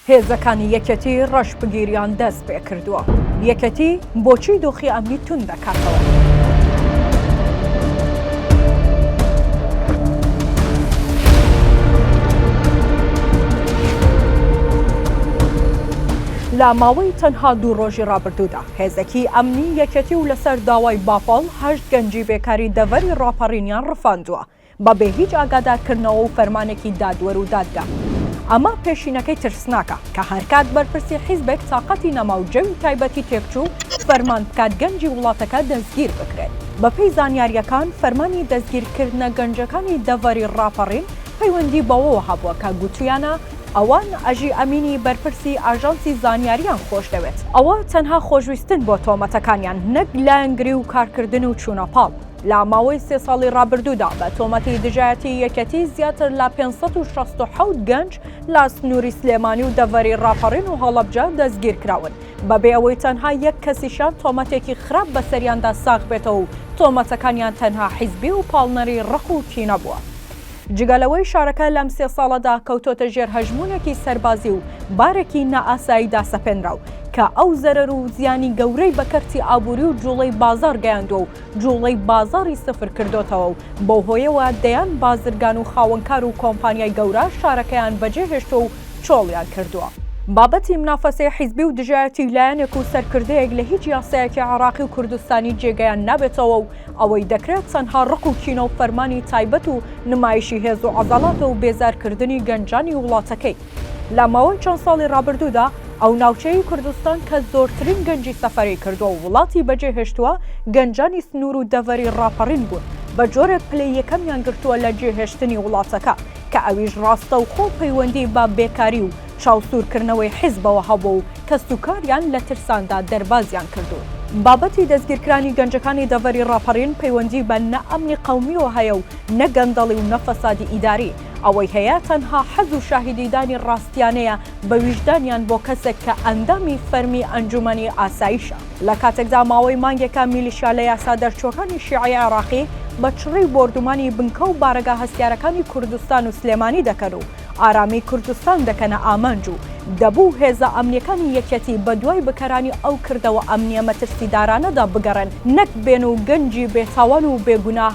هێزەکانی یەکێتی ڕەشبگیریان دەست پێ کردووە، یەکێتی بۆچی دۆخی ئەمنی توند دەکاتەوە؟ لە ماوەی تەنها دوو ڕۆژی ڕابردوودا هێزەکی ئەمنی یەکێتی و لەسەر داوای بافڵ هەشت گەنجی بێکاری دەڤەری ڕاپەڕینیان ڕفاندووە، بە بێ هیچ ئاگادارکردنەوە و فەرمانێکی دادوەر و دادگا. ئەمە پێشینەکەی ترسناکە کە هەرکات بەرپرسی حیزبێک تاقەتی نەما و جەوی تایبەتی تێکچوو فەرمان بکات گەنجی وڵاتەکە دەستگیر بکرێت. بەپێی زانیارییەکان فەرمانی دەستگیرکردنە گەنجەکانی دەڤەری ڕاپەڕین پەیوەندی بەوەوە هەبووە کە گوتوویانە ئەوان ئەژی ئەمینی بەرپرسی ئاژانسی زانیارییان خۆشدەوێت. ئەوە تەنها خۆشویستن بۆ تۆمەتەکانیان نەک لایەنگری و کارکردن و چوونەپاڵ. لە ماوەی سێ ساڵی ڕابردوودا بە تۆمەتی دژایەتی یەکەتی زیاتر لە 567 گەنج لە سنووری سلێمانی و دەڤەری ڕاپەڕین و هەڵەبجە دەستگیرکراون بەبێ ئەوەی تەنها یەک کەسیشان تۆمەتێکی خراپ بەسەریاندا ساغ بێتەوە و تۆمەتەکانیان تەنها حیزبی و پاڵنەری ڕق و کینە بووە. جگە لەوەی شارەکە لەم سێ ساڵەدا کەوتۆتە ژێر هەژمونێکی سەربازی و بارێکی نائاساییدا سەپێنرا و کە ئەو زەرەر و زیانی گەورەی بە کەرتی ئابووری و جوڵەی بازاڕ گەیاندووە و جوڵەی بازاڕی سفر کردۆتەوە و بەو هۆیەوە دەیان بازرگان و خاوەنکار و کۆمپانیای گەورە شارەکەیان بەجێ هێشتوە و چۆڵیان کردوە. بابەتی منافەسەی حیزبی و دژایەتی لایەنێک و سەرکردەیەک لە هیچ یاسایەکی عێڕاقی و کوردستانی جێگەیان نابێتەوە و ئەوەی دەکرێت تەنها ڕق و کینە و فەرمانی تایبەت و نمایشی هێز و عەزەڵاتە و بێزار کردنی گەنجانی وڵاتەکەی لە ماوەی چەند ساڵی ڕابردوودا ئەو ناوچەیەی کوردستان کە زۆرترین گەنجی سەفەری کردووە و وڵاتی بەجێهێشتووە، گەنجانی سنوور و دەڤەری ڕاپەڕین بوون، بە جۆرێک پلەی یەکەمیان گرتووە لە جێهێشتنی وڵاتەکە، کە ئەویش ڕاستەوخۆ پەیوەندیی بە بێکاری و چاوسوورکردنەوەی حیزبەوە هەبووە و کەسوکاریان لە ترساندا دەربازیان کردوون. بابەتی دەستگیرکرانی گەنجەکانی دەڤەری ڕاپەڕین پەیوەندیی بە نە ئەمنی قەومییەوە هەیە و نە گەندەڵی و نە فەسادی ئیداری، ئەوەی هەیە تەنها حەز و شاهیدیدانی ڕاستیانەیە بە ویژدانیان بۆ کەسێک کە ئەندامی فەرمی ئەنجومەنی ئاسایشە. لە کاتێکدا ماوەی مانگێکە میلیشیا لە یاسا دەرچووەکانی شیعەی عێراقی بە چڕی بۆردومانی بنکە و بارەگا هەستیارەکانی کوردستان و سلێمانی دەکەن و ئارامی کوردستان دەکەنە ئامانج و دەبوو هێزە ئەمنیەکانی یەکێتی بەدوای بکەرانی ئەو کردەوە ئەمنیە مەترسیدارانەدا بگەڕێن نەک بێن و گەنجی بێتاوان و بێگوناه